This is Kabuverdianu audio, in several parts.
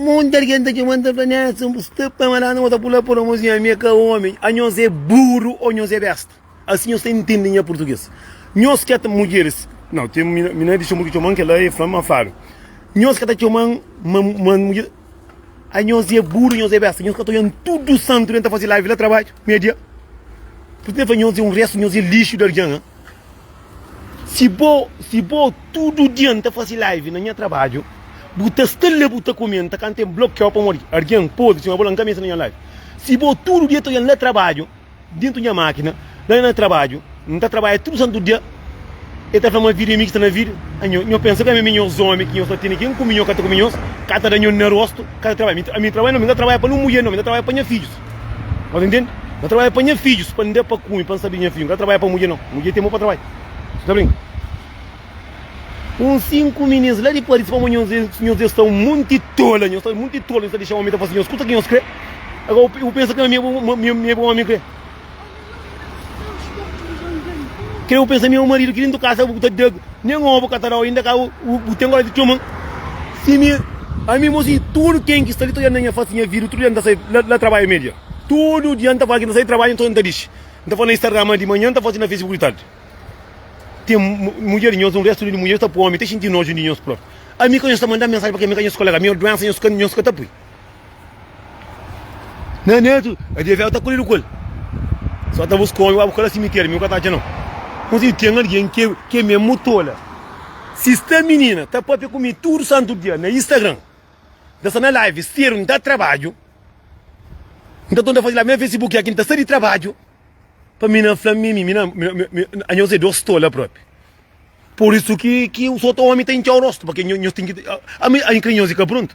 Monti algen ta txoma-m, ta fla-m, Edson, bu sta pa ma lana? Nhos ta pula pura mos, nha. Mi é ka ómi. Ô nhos é buru ô nhos é besta. Asi nhos ta intende nha purtuges. Nhos ka ta. Mudjeris, Nau, ten mina di txoma ki txoma-m kel-la, e fla-m ma fadu. Nhos ka ta txoma-m ma mudjer. Ô nhos é buru ô nhos é besta. Nhos ka ta odja-m tudu santu dia N ta faze live la trabadju, media. Purtu N ta fla nhos, nhos é un restu, nhos é lixu di algen. Si bo si bo tudu dia nta fasi live na nha trabadju bu ta sta la bu ta kumenta ka ntem blokeau pamodi argen podi sima bo la nka meste na nha live si bo tudu dia ta oja na trabadju dentu nha makina la na trabadju nta trabadja tudu santu dia e ta fla ma vida e mi ki sta na vida anho nho pensa ka mi mi nhos omi ki nho sta tene ken kumi nho ka ta kumi nhos ka ta da nho na rostu ka ta trabadja ami trabadja no mi nta trabadja pa no mudjer no mi nta trabadja pa nha fidjus. Sta entende? Na trabadja pa nha fidjus, pa n'de pa kume, pa n'sa bem nha fidju, n'ka trabadja pa mudje nao, mudje tem bo pa trabadja, sta brinka? Un sinku minins la di Paris fla ma nhos é, nhos é sta un monti tola, nhos sta monti tola, nhos sta dexa omi ta fla si nhos kusa ki nhos kre, agora u pensa ki ma mi é bom, ma mi é bom omi kre? Kre bu pensa meu marido ki dintu kasa bu ta deg nen obu ka ta dau inda ka bu ten kore di txoma si mi ami mo si tudu ken ki sta li ta olha na nha fasi nha vidu tudu dia nta sai la trabalha media tudu dia nta fala ki nta sai trabalha nton nta dixi nta fala na instagram di manha nta fasi na facebook di tardi ten mudjer di nhos un restu di mudjer sta pui omi ta xinti noju di nhos propi ami ka nhos ta manda mensagem pa kel ami ka nhos kolega mi doensa nhos ka ta pui. Né Neto, a dia véu ta kolhedu ku el. Só ta bus kome, abu kala simiteri, mi nu ka ta atxa nau. Nhu si ten algen ke ke mesmu tola. Si sta minina ta papia ku mi tudu santu dia na Instagram, n ta sta na live, steru, n ta trabadju, n ta tonta faze live na Facebook, aki n ta sta di trabadju. Pa mi na fla mi mi na anha usa dos tola propi. Por isso que que os outros homens têm tchau rosto, porque nós tem que a mim a mim crinhoso fica pronto.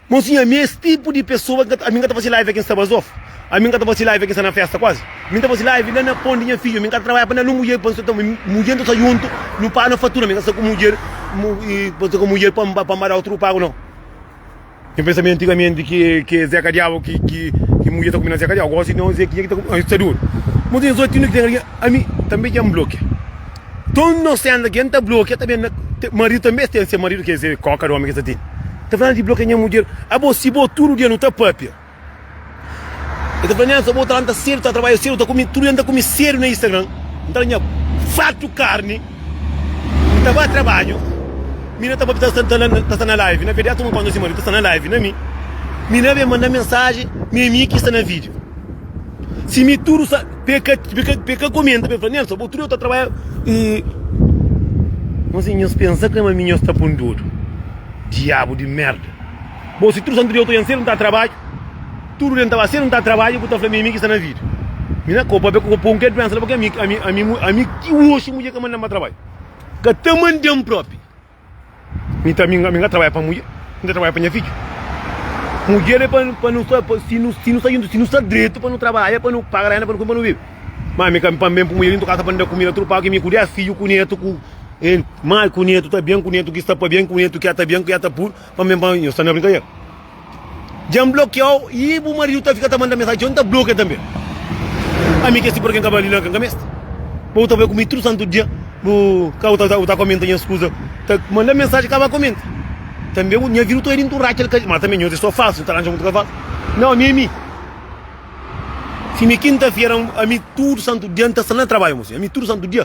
Mas sim, a mim esse tipo de pessoa que a mim que tá fazendo live aqui em Sabazof, a mim que tá fazendo live aqui na festa quase. A mim tá fazendo live lá na ponte minha filha, a mim que trabalha para não mulher, para então mulher não tá junto, não paga na fatura, a mim que tá com mulher, e para com mulher para para outro pago não. Ken pensaba antigamente ki ki é Zeca Diabo ki ki ki mulher ta combina Zeca Diabo. Agora se não é Zequinha que tá combinando. Está duro. Mas tem só tino que tem ali. A mim também já me bloqueia. Então não sei ainda quem tá bloqueia também. na- te- Marido também tem seu marido que é coca do homem que está tendo. Tá falando de bloquear minha mulher. Ah, bom, se bom tudo dia não tá papia. E ta fla nha sa bo ta lanta sedu ta trabadja sedu ta kume tudu dia n ta kume sedu na Instagram n ta da nha fatu karni n ta ba trabadju mi na ta ba ta ta sta na live na verdiati un konta si maridu ta sta na live na mi mi na ben manda mensaji mi ami ki sta na video si mi tudu sa be ka be ka be ka komenta be fla nha sa bo tudu dia ta trabadja nhos pensa krê ma mi nhos ta pun dodu diabu di merda. Bom si tudu santu dia eu ta oi anselmu ta trabadju tudu dia n'ta oi anselmu ta trabadju bu ta fla mi ami ki sta na vida mi na kau pabia ku ka pon ke duensa la pabia ami ti oxi mudjer ka mandan pa trabadju ka ta mandan propi mi ta ami ami ka trabadja pa mudjer mi ta trabadja pa nha fidju mudjer e pa nu sta si nu si nu sta juntu si nu sta dretu pa nu trabadja pa nu paga renda pa nu kume pa nu bibi ma ami ka pa n'ben pui mudjer dintu kasa pa n'da kumida tudu pagu ki mi ku dez fidju ku netu ku en mai ku netu ta ben ku netu ki sta pa ben ku netu ki ya ta ben ku ya ta pui. Ma men pa nhos ta na brincadeira. Dja N blokeau y bu marido ta fika ta manda mensagem txeu N ta blokea tanbe. Ami ke sipor ke N ka ba li la ka N ka meste. Ma bu ta bai ku mi tudu santu dia bu ka bu ta komenta nhas kuza ta manda mensagem ka ba komenta. Tanbe bu nha vida bu ta bai dintu Rachel ka ma tanbe nhos é so falsu nhos ta ranja mutu ka falsu. Nau ami é mi. Sime kinta fera ami tudu santu dia N ta sta na trabadju mos ami tudu santu dia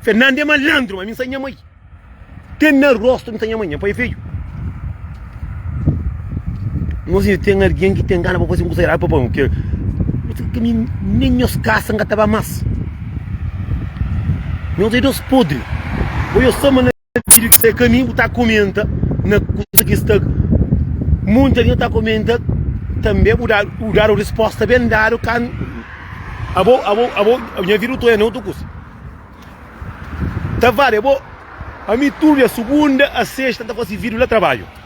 Fernando é malandro, ma mi sa nha mãe. Te na rosto mi sa nha mãe, nha pai é feio. Nos inda tem alguém que tem gana para fazer um curso errado para pão. Que, que mim, nem meus caças não tava mais. Meus idosos podres. Ou eu sou vídeo ki sta aí caminho bu tá comenta na coisa que está muita gente tá comenta também bu dar o dar o resposta bem dado can abo abo abo minha vida tu é não tu cus tá vale abo a mim tudo é segunda a sexta tá fazendo vídeo lá trabalho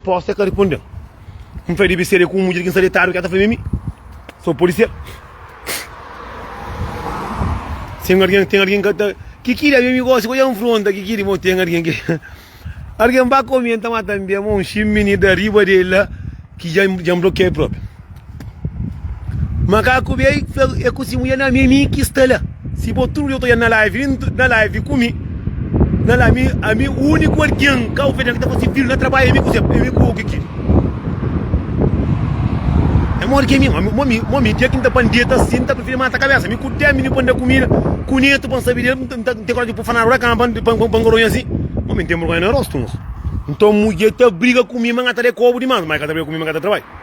Posta ka riponde-m. N fla, Debe ser é ku un mudjer ki N sta detadu ki el ta fla-m ami. Sô pode ser. Si N algen, ten algen ki el ta. Kiki di ami, ami gosi ki odja-m fronta, kiki di mo ten algen ki. Algen ba komi, el ta mata-m bem. Un xinminida riba di el la ki dja N blokia el propi. Makaku bai fla e ku si mulher, na mimi ki sta la. Si bo tudu dia ta odja-m na live, vin na live ku mi. Na la mi, ami uniku algen Cabo Verdian ki ta fase filhu na trabadju é mi ku Zé, é mi ku bo, Kiki. É modi ki ami, mo mi, mo mi dia ki N ta ba N deta si, N ta prifiri mata kabesa. Mi ku demi mi pa N da kumida ku netu pa N sabe del, N ta, N ta, N ten korajen di pui fanadu la kama pa N, pa N, pa N goronha si. Mo mi N ten bergonha na rostu. Nton mudjer ta briga ku mi ma N ka ta da-i kobu dimas, ma i ka ta briga ku mi ma N ka ta trabadju.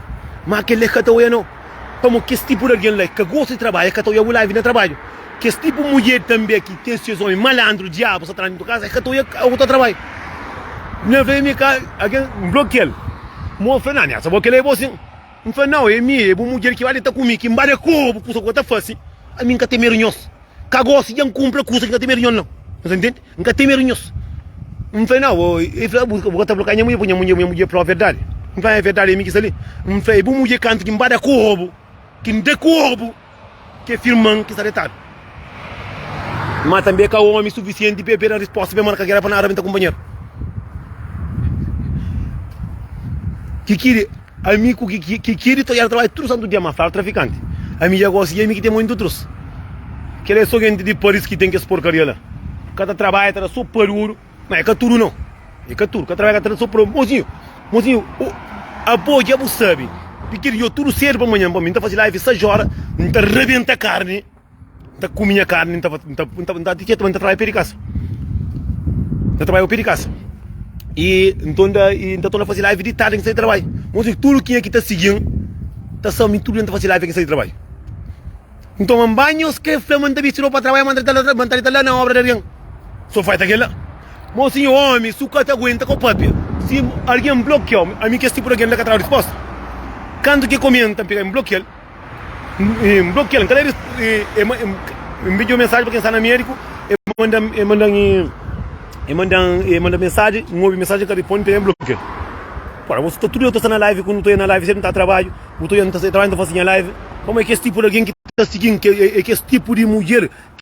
Má kel-li é ka ta oia-nu. Pamodi kes tipu di algen la é ka gosta di trabadju, é ka ta oia bu la vive na trabadju. Kes tipu mudjer tanbê ki ten ses ómi malandru, diabu, satana dentu kaza, é ka ta oia bu ta trabadju. Mi na fla é mi ka, algen nblokia-l. Má ol fla, Nan, nhasa, bo kel-la é bo sin? N fla, Nau, é mi, é bu mudjer ki bai li ta ku mi, ki n bai li é ku obu, kusa ku el ta fase. Ami n ka ten medu nhos. Ka gosi dja N kunpla kusa ki N ka ten medu nhos nau. Nu ta ntende? N ka ten medu nhos. N fla, Nau, ô, el fla, Bu ka ta blokia nha mudjer, pui nha mudjer nha mudjer fla-u verdadi. N fla, É verdadi, é mi ki sta li. N fla, É bu mudjer kantu ki N bada korpu, ki N da korpu kes irman ki sta detadu. Má tanbê el ka ómi sufisienti pa el pega respósta pa el marka géra pa nada, pa el ta kunpanheru. Ki ki. Ami ku kiki di todjada trabalha tudu santu dia ma fala trafikanti ami dja gosi dja mi ki ten mó intu trus kela é so genti di paris ki ten kes porkaria la ka ta trabalha ta da so pa di oru ma é ka tudu no é ka tudu ka trabalha ka ta da so pa mozinhu mozinhu abo dja bu sabi piki di djo tudu sedu pa manhan pa mi nta fasi live 6 ora nta rabenta karni. ta kume nha karni, ta ta ti ta trabadja pé di kasa, ta trabadja pa pé di kasa i nton da i ta torna faze live di tardi ki sai di trabadju, mos di tudu kenha ki ta sigi-m ta sa mi tudu dia ta faze live ki sai di trabadju, nton ma mba nhos kre fla ma ta bisti ropa pa trabadja ma ta ma ta la na obra di algen so fai ta kela, mos si nha omi su ka ta aguenta ko papia si algen blokia-u ami kes tipu di algen la ka ta da risposta kantu ke komenta mi pega mi blokia-l. N blokia-l, n ka da el. N midja un mensaji pa kel ki sta na médiku, el manda-m mensaji, n obi mensaji, n ka responde, nton el blokia-l. Ora bo sta tudu dia bu ta sta na live ku mi, bu ta bai na live sempri, bu ta trabadju, bu ta bai na live, pamodi es tipu di algen ki ta sigi-m, es tipu di mudjer.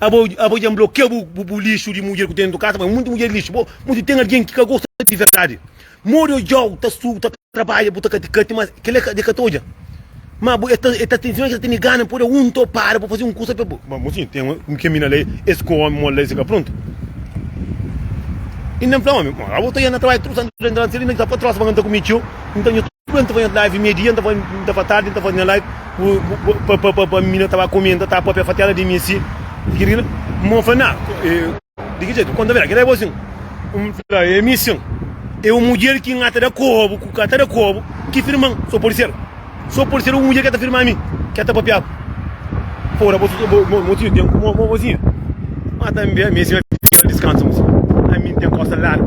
Abo abo dja nblokia bu bu bu lixu di mudjer ku ten dentu kasa, ma mutu mudjer lixu bo, mutu ten algen ki ka gosta di verdadi. Modi odjau ta su ta trabadja bu ta kati kati ma kela ka de ka ta odja. Ma bu e ta e ta tinfina ki ta tene gana pode un to para pa fazi un kusa pa bu. Ma bu si ten un kemina lei es ku omi mol lei si ka pruntu. Inda nfla omi, ma abo ta ya na trabadja tudu santu dia nta na seli na disa pa trosa pa nka nta kumi txeu nta nhu. N ta faze nha live mei dia, N ta faze tardi, N ta faze nha live pa minha ta ba komenta, ta papia fatiada di mi si i kila i kila. N ba fla, Na, di ki jetu? N konta bem, kel la e bo sin? N fla, E mi sin. E un mudjer ki N ta da kobu, ku ka ta da kobu, ki firma-m. So pode ser. So pode ser un mudjer ke ta firma mi, ke ta papia ku. Ora bo tinha tenpu ku mozinha? Ma tambi ami si ba fika diskansa, ami N ten kosa largu.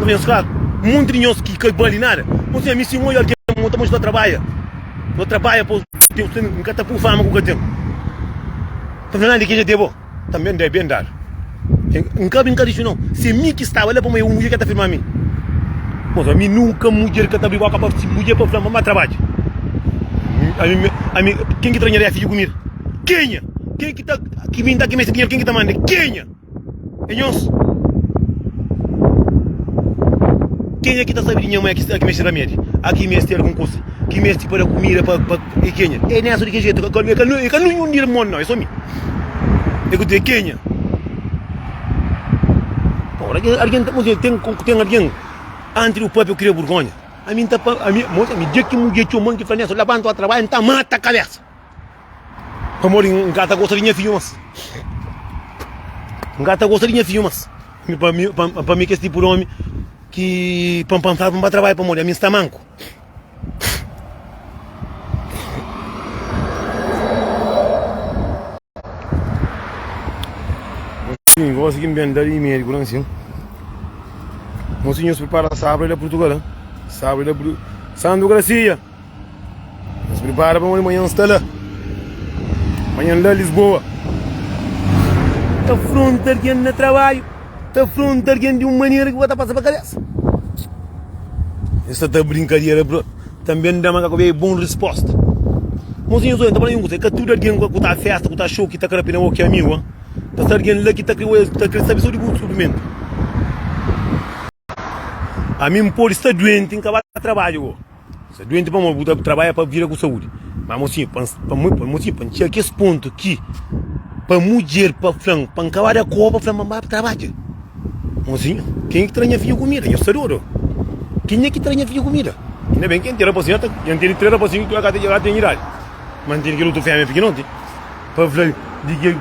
Tá ben fraku, monti di nhos ki ka bali nada. Nhos fia mi si nho algen ma nhos ta mostra trabadja. Nhos trabadja pa Deus ten, N ka ta pui fama ku ka ten. Ka fla nada di ke dja debo, ta ben da, ben dadu. N ka bin ka dixi no, se mi ki staba la pamodi un mudjer ka ta firma mi. Nhos ami nunka mudjer ka ta abri boka pa mudjer pa fla-m ba trabadja. Ami, ami, ken ki ta ranharia fidju ku mi? Kenha? Ken ki ta, ki bin da ki meste dinheru, ken ki ta manda? Kenha? É nhos. Kenha ki ta sabe di nha mãe a ki meste ramedi, a ki meste algun kusa, ki meste pa da kumida pa pa e kenha. É nessa di ki jetu ka ka ka ka nunhun di irmon nau, é so mi. É ku te kenha. Ora ki alguen ta mostra ten ku ten alguen anti di bu pape ku kria burgonha. Ami nta pa ami mostra mi dia ki mudjer txoman ki fla nessa labanta o trabalha nta mata kabesa. Pamodi n ka ta gosta di nha fidju más. N ka ta gosta di nha fidju más. Pa mi, pa mi kes tipu di omi ki pa n pansaba pa n ba trabadja pamodi ami n sta manku. Mosinhu, gósi ki n ben da di médiku la nsin. Mosinhu, nhos pripara sabra di la Purtugal. Sabra di la Purtugal. Santu Grasia! Nos pripara pa un manhan sta la Manhan la Lisboa Ta fronta argen na trabadju Ta fronta argen di un manera ki bo ta pasa pa kabesa Es sta ta brinkadera brot Tanbe N da ma ka kobei bon resposta Mozinho Zóia N ta fala-u un kuza E ka tudu argen ku ta festa ku ta xou ki ta kre pena bo ki amigu a Paska argen la ki ta kre oja ki ta kre sabe so di bu sufrimentu. Ami N pode sta duenti, N ka ba trabadja go. Sta duenti pamodi bu ta trabadja pa vida ku saúdi. Má amô si, pa amô si, pa N txiga kes pontu ki pa mudjer pa fla-m pa N ka ba da kóba, fla-m pa N ba trabadja. Amô si, kenha ki tra nha fidju kumida? Nha sta dodu. Kenha ki tra nha fidju kumida? Inda ben ki N ten rapazinhu, N tene três rapazinhu ki dja ka ten idadi. Má N tene kel otu fémia pikinoti pa fla-l di ki.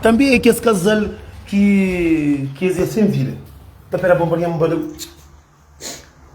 Tanbê é kes kazal Ki kes é sen vida. Ta pera bom pa nha mba da.